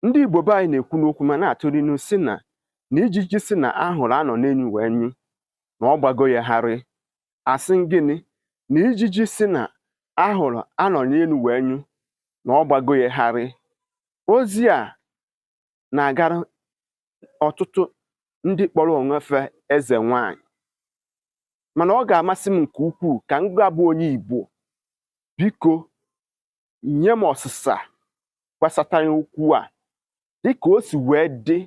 ndị Igbo be anyị na-ekwu n'okwu ma na-atụrụ inu sị na na ijiji sị na ahụrụ a nọ n'enu wee nyụ na ọ gbago ya gharị asị m gịnị na ijiji sị na ahụrụ a nọ n'enu wee nyụ na ọ gbago ya gharị ozi a na-agara ọtụtụ ndị kpọrọ onwe fa eze nwanyị mana ọ ga-amasị m nke ukwuu ka ngị bụ onye Igbo biko nye m ọsịsa gbasatara okwu a dịka o si wee dị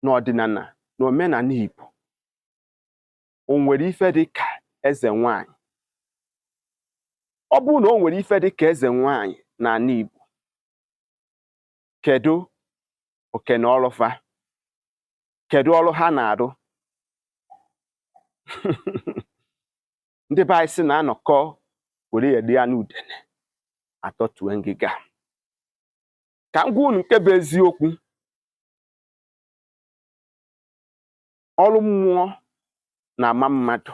n'ọdịnala na omenala Igbo o nwere ife dị ka eze nwanyị ọ bụrụ na o nwere ife dị ka eze nwanyị n'ala Igbo kedu oke na ọlụ fa kedu ọrụ ha na-arụ ndị be anyị sị na a nọkọ were ya dị ya na udene atọtue ngịga ka m gwa unu nke bụ eziokwu ọrụ mmụọ na-ama mmadụ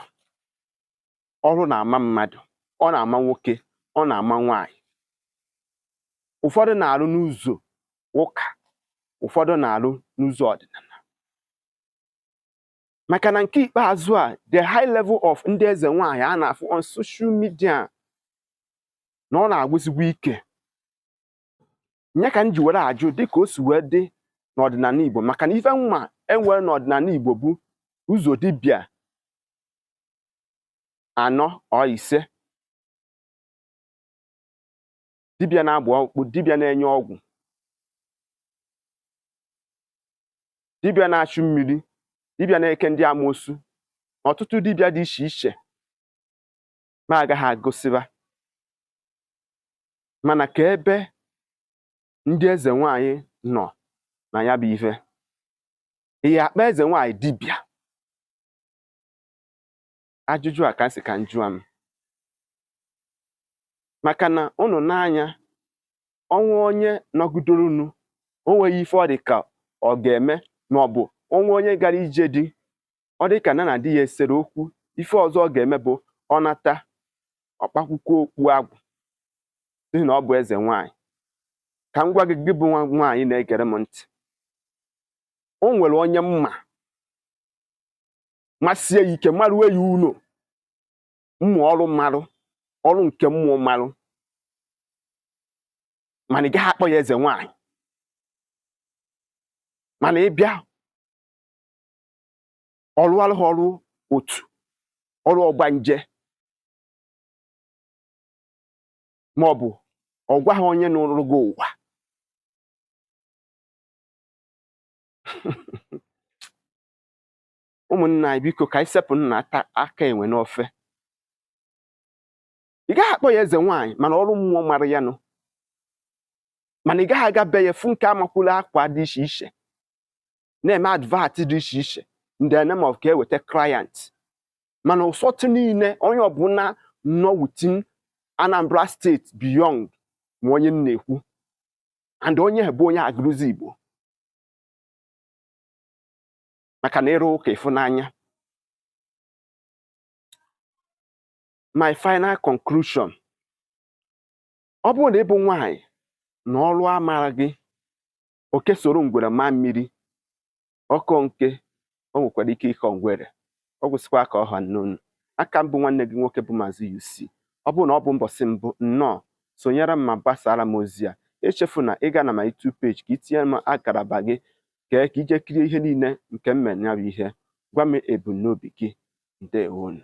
ọrụ na-ama mmadụ ọ na-ama nwoke ọ na-ama nwaanyị ụfọdụ na-arụ n'ụzọ ụka ụfọdụ na-arụ n'ụzọ ọdịnala maka na nke ikpeazụ a the high level of ndị eze nwaanyị a na-afụ on social media na ọ na-agwụzikwa ike nya ka m ji were ajụ dịka o si wee dị n'ọdịnala Igbo maka na ife m ma e nwere n'ọdịnala Igbo bụ ụzọ dibịa anọ ọ ise dibịa na-agba ọkpụ dibịa na-enye ọgwụ dibịa na-achụ mmiri dibịa na-eke ndị amoosu ọtụtụ dibịa dị iche iche m agaghị agụsịba mana ka ebe ndị eze nwanyị nọ na ya bụ ife ị ya-akpọ eze nwanyị dibịa ajụjụ a ka m sị ka m jụa maka na ụnụ nee anya o nwee onye nọgidoro n'ụnọ o nweghị ife ọ dị ka ọ ga-eme ma ọ bụ o nwee onye gara ije di ọ dị ka nya na di ya sere okwu ife ọzọ ọ ga-eme bụ ọ nata ọ kpakwụkwọ okpu agwụ n'ihi na ọ bụ eze nwaanyị ka m gwa gị gị bụ nwaanyị na-egere m ntị o nwere onye m ma masie ya ike marue ya ụlọ mmụ ọrụ marụ ọrụ nke mmụọ marụ mana ị gaghị akpọ ya eze nwanyị mana ị bịa ọ rụarụ gị ọrụ otu ọrụ ọgbanje ma ọ bụ ọ gwa gị onye nọrọ gị ụwa ụmụnna anyị biko ka anyị sepụ nna aka enwe n'ofe ị gaghị akpọ ya eze nwaanyị mana ọrụ mmụọ mara ya nụ mana ị gaghị aga be ya fụ nke amakwụla akwa dị iche iche na-eme advert dị iche iche in the name of ka e nweta client mana ụsọtụ niile onye ọbụla nọ within Anambra State beyond ma onye m na-ekwu and onye bụ onye Agụlụzigbo maka na ị rụọ ụka ị fụ n'anya my final conclusion ọ bụrụ na ị bụ nwanyị na ọrụ amara gị oke soro ngwere maa mmiri ọ kọọ nke o nwekwara ike ịkọ ngwere ọ gwụsịkwa ka ọ ha n'ọnụ a ka m bụ nwanne gị nwoke bụ Maazị UC ọ bụrụ na ọ bụ mbọsị mbụ nnọọ sonyere m ma gbasaara m ozi a echefuna ịga na my YouTube page ka i tinye m akaraba gị kee ka i je kirie ihe niile nke m mere ya bụ ihe gwa m ebumnobi gị ndewonụ